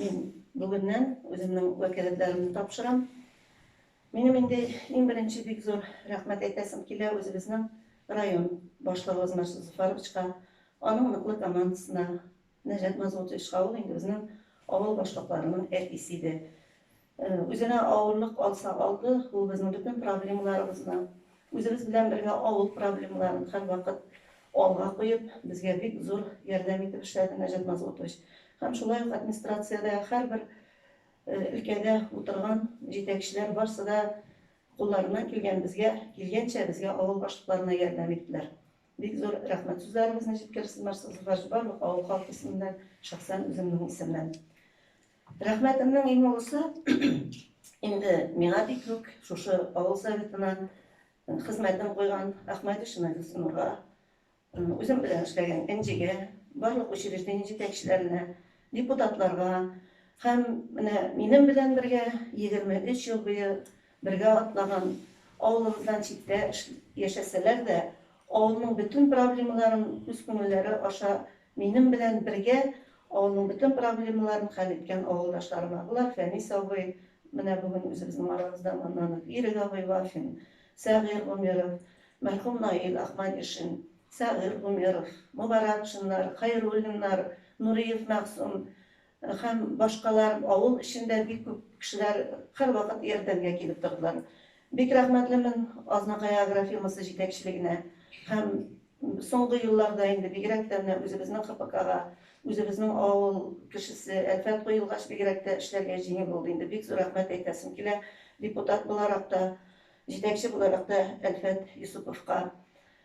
Мин бүгеннән үземнең вәкаләтләремне тапшырам. Минем инде иң беренче бик зур рәхмәт әйтәсем килә үзебезнең район башлыгыбыз Марсус Зуфаровичка, аның ныклы командасына, Нәҗат Назгутовичка, ул инде безнең авыл башлыкларының әтисе иде. Үзенә авырлык алса алды, ул безнең бөтен проблемаларыбызны, үзебез белән бергә авыл проблемаларын һәрвакыт алга куеп, безгә бик зур ярдәм итеп эшләде Нәҗат Назлытович. Һәм шулай ук администрациядә һәрбер өлкәдә утырган җитәкчеләр барсы да кулларыннан килгән безгә, килгәнчә безгә авыл башлыкларына ярдәм иттеләр. Бик зур рәхмәт сүзләрегезне җиткерсез, Марсыз Ваш, барлык авыл халкы исеменнән, шәхсән үземнең исемнән. Рәхмәтемнең иң олысы инде миңа бик күк шушы авыл советына хезмәтен куйган Әхмәт Ишмәт Гөлсинурга, үзем белән эшләгән Энҗегә, барлык учреждение җитәкчеләренә, депутатларга һәм менә минем белән бергә 23 ел буе Бергә атлаган авылыбыздан читтә яшәсәләр дә, авылның бөтен проблемаларын үз күңелләре аша минем белән бергә авылның бөтен проблемаларын хәл иткән авылдашларыма, болар Фәнис абый, менә бүген үзебезнең арабызда Маннанов Ирек абый Вафин, Сәгыйр Гомеров, мәрхүм Наил Ахмадишин, Сәгыйр Гомеров, Мобаракшиннар, Хәйруллиннар, Нуриев Мәгъсум, Һәм башкалар, авыл эчендә бик күп кешеләр һәрвакыт ярдәмгә килеп тордылар. Бик рәхмәтлемен Азнакай агрофирмасы җитәкчелегенә һәм соңгы елларда инде бигрәк тә менә үзебезнең ХПКга, үзебезнең авыл кешесе Әлфәт куелгач бигрәк тә эшләргә җиңел булды инде. Бик зур рәхмәт әйтәсем килә депутат буларак та, җитәкче буларак та Әлфәт Йосыповка.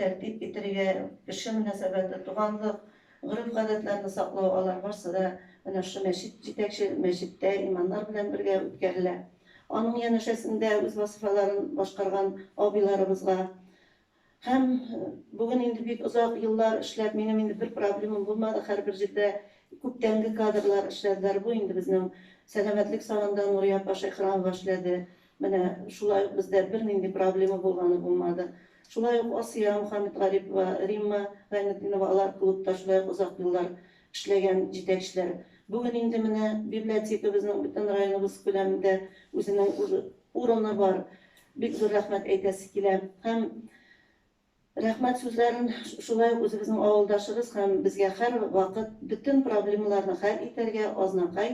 тәртип итәргә, кеше мөнәсәбәте, туганлык, гореф-гадәтләрне саклау, алар барсы да менә шушы мәчет җитәкче, мәчеттә имамнар белән бергә үткәрелә. Аның янәшәсендә үз вазифаларын башкарган абыйларыбызга һәм бүген инде бик озак еллар эшләп, минем инде бер проблемам булмады, һәрбер җирдә күптәнге кадрлар эшләделәр, бу инде безнең Сәламәтлек сагында Нурия апа Шәйхрамова эшләде, Менә шулай ук бездә бернинди проблема булганы булмады. Шулай ук Асия Мөхәммәтгарипова, Римма Гайнетдинова алар клубта шулай ук озак еллар эшләгән җитәкчеләр. Бүген инде менә библиотекабызның бөтен районыбыз күләмендә үзенең урыны бар. Бик зур рәхмәт әйтәсе килә. Һәм Рәхмәт сүзләрен шулай ук үзебезнең авылдашыбыз һәм безгә һәрвакыт бөтен проблемаларны хәл итәргә Азнакай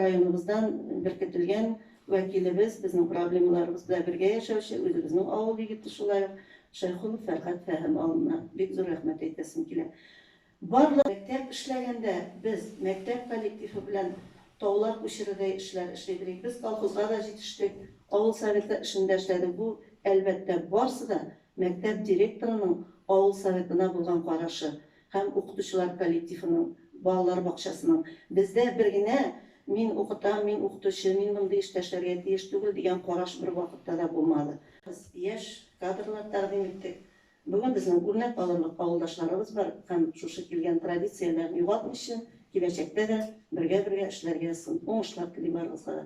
районыбыздан беркетелгән вәкилебез, безнең проблемаларыбыз белән бергә яшәүче үзебезнең авыл егете шулай ук Шәйхуллов Фәргать Фәһем алына бик зур рәхмәт әйтәсем килә. Барлык мәктәп эшләгәндә без мәктәп коллективы белән таулар күчерердәй эшләр эшли белик. Без колхозга да җитештек, авыл советы эшендә эшләдек. Бу, әлбәттә, барсы да мәктәп директорының авыл советына булган карашы һәм укытучылар коллективының, балалар бакчасының. Бездә бер генә мин укытам, мин укытучы, мин мондый эштә эшләргә тиеш түгел, дигән караш бервакытта да булмады. Без яшь кадрлар тәкъдим иттек, Бүген безнең үрнәк алырлык авылдашларыбыз бар һәм шушы килгән традицияләрен югалтмыйча, киләчәктә дә бергә-бергә эшләргә сын уңышлар тели барыгызга да.